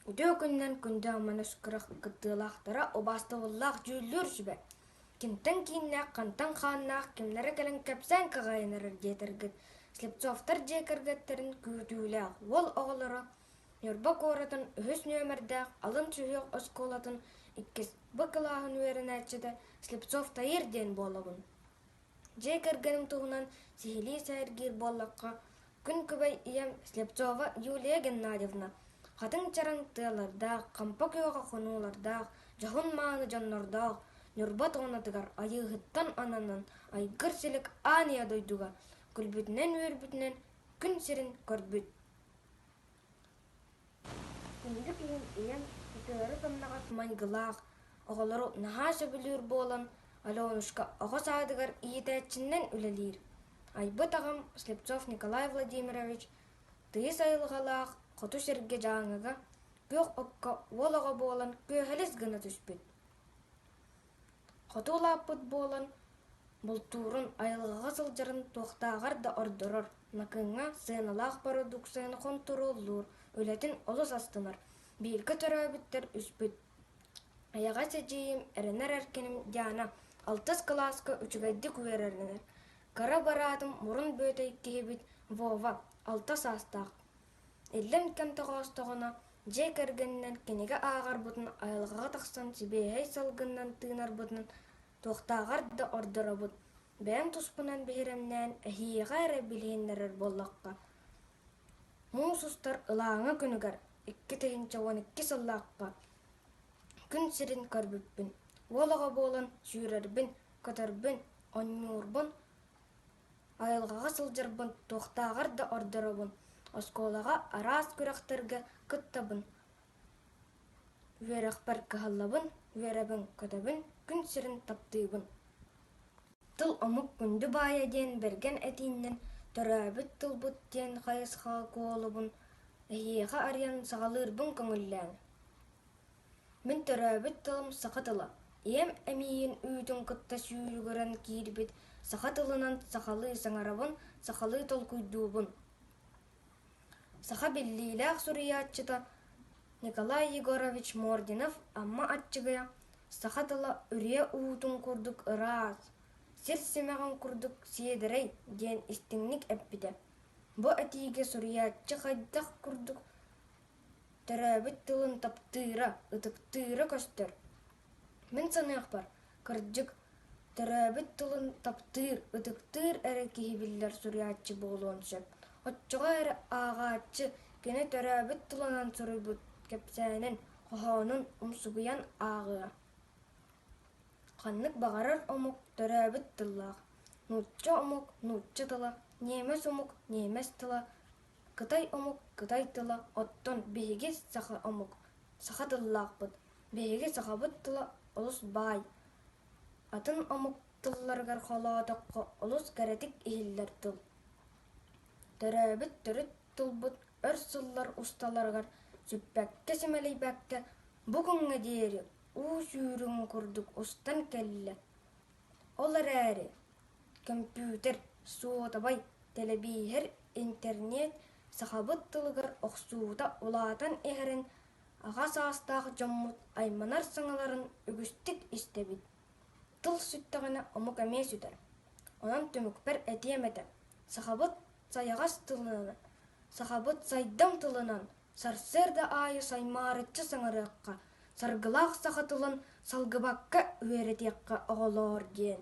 Үтүө күнүнэн күндү амманас күрэх кыттыылаахтара убаастабыллаах дьүүллүүр сүбэ кимтэн кииннээх хантан хааннаах кимнэрэ кэлэн кэпсээн каҕайынарар диэтэргит слепцовтар дьиэ кэргэттэрин күүтүүлээх уол оҕолоро Ньурба куоратын үһүс нүөмэрдээх алын сүһүөх оскуолатын иккис Б кылааһын үөрэнээччитэ Слепцов Таир диэн буолабын. Дьиэ кэргэним туһунан сиһилии сэһэргиир буоллахха, Күн-күбэй ийэм Слепцова Юлия Геннадьевна хатыҥ чараҥ тыалардаах, хампа күөҕэ хонуулардаах, дьоһун мааны дьоннордоох Ньурба Туонатыгар Айыыһыттан ананан айгыр силик ааньа дойдуга күлбүтүнэн-үөрбүтүнэн күн сирин көрбүт Түннүк иһин ийэм ытыары-тамнаҕас майгылаах, оҕолору наһаа сөбүлүүр буолан, Аленушка оҕо саадыгар иитээччинэн үлэлиир. Айбыт аҕам Слепцов Николай Владимирович тыйыс айылҕалаах хоту сиргэ Дьааҥыга күөх окко уол оҕо буолан күөһэлэс гына түспүт хоту улааппыт буолан бултуурун айылҕаҕа сылдьарын туохтааҕар да ордорор накыҥҥа сыаналаах бородууксуйаны хонтуруоллуур үлэтин олус астынар бииргэ төрөөбүттэр үспүт эйэҕэс эдьиийим эрэнэр эркиним диана алтыс кылааска үчүгэйдик үөрэнэр кыра бараатым мурун бүөтэй киһибит вова алта саастаах Иллэҥ кэм тоҕоостоҕуна, дьиэ кэргэнинэн кинигэ ааҕарбытын, айылҕаҕа тахсан сибиэһэй салгынынан тыынарбытын туохтааҕар да ордоробут. Бэйэм туспунан биһирэмнээн, эһиэхэ эрэ билиһиннэрэр буоллахха, муус устар ылааҥы күнүгэр икки тыһыынча уон икки сыллаахха күн сирин көрбүппүн, уол оҕо буолан сүүрэрбин, көтөрбүн, онньуурбун Айылҕаҕа сылдьарбын туохтааҕар да ордоробун, оскуолаҕа араас күрэхтэргэ кыттабын, үөрэхпэр кыһаллабын, үөрэбин-көтөбүн, күн сирин таптыыбын. Тыл омук күндү баайа диэн бэргэн этииннэн төрөөбүт тылбыт диэн хайысхаҕа куолубун, эһиэхэ арыйан саҕалыырбын көҥүллээн Мин төрөөбүт тылым саха тыла. Ийэм эмиийин үүтүн кытта сүүрүгүрэн киирбит саха тылынан сахалыы саҥарабын, сахалыы толкуйдуубун. Саха биллиилээх суруйааччыта Николай Егорович Мординов Амма Аччыгыйа саха тыла үрүйэ уутун курдук ыраас, сир симэҕин курдук сиэдэрэй диэн истиҥник эппитэ. Бу этиигэ суруйааччы хайдах курдук Төрөөбүт тылын таптыыра, ытыктыыра көстөр. Мин саныахпар, кырдьык, төрөөбүт тылын таптыыр, ытыктыыр эрэ киһи биллэр суруйааччы буолуон сөп. Оччоҕо эрэ ааҕааччы кини төрөөбүт тылынан суруйбут кэпсээнин, хоһоонун умсугуйан ааҕыа. Ханнык баҕарар омук төрөөбүт тыллаах. Нуучча омук – нуучча тыла, ньиэмэс омук – ньиэмэс тыла, кытай омук кытай тыла оттон биһиги саха омук саха тыллаахпыт биһиги сахабыт тыла олус баай атын омук тылларыгар холоотоххо олус кэрэтик иһиллэр тыл төрөөбүт төрүт тылбыт өр сыллар усталарыгар сүппэккэ-симэлийбэккэ бу күҥҥэ диэри уу сүүрүҥ курдук устан кэллэ Ол эрээри, көмпүүтэр, суотабай, тэлэбииһэр, интернет сахабыт тылыгар охсуута улаатан иһэрин аҕа саастаах дьоммут айманар саҥаларын үгүстүк истэбит. Тыл сүттэҕинэ омук эмиэ сүтэр. Онон түмүкпэр этиэм этэ, сахабыт сайаҕас тылынан, сахабыт сайдыҥ тылынан Сарсыарда аайы саймаарыччы саҥарыахха, саргылаах саха тылын салгыбакка үөрэтиэххэ, оҕолоор диэн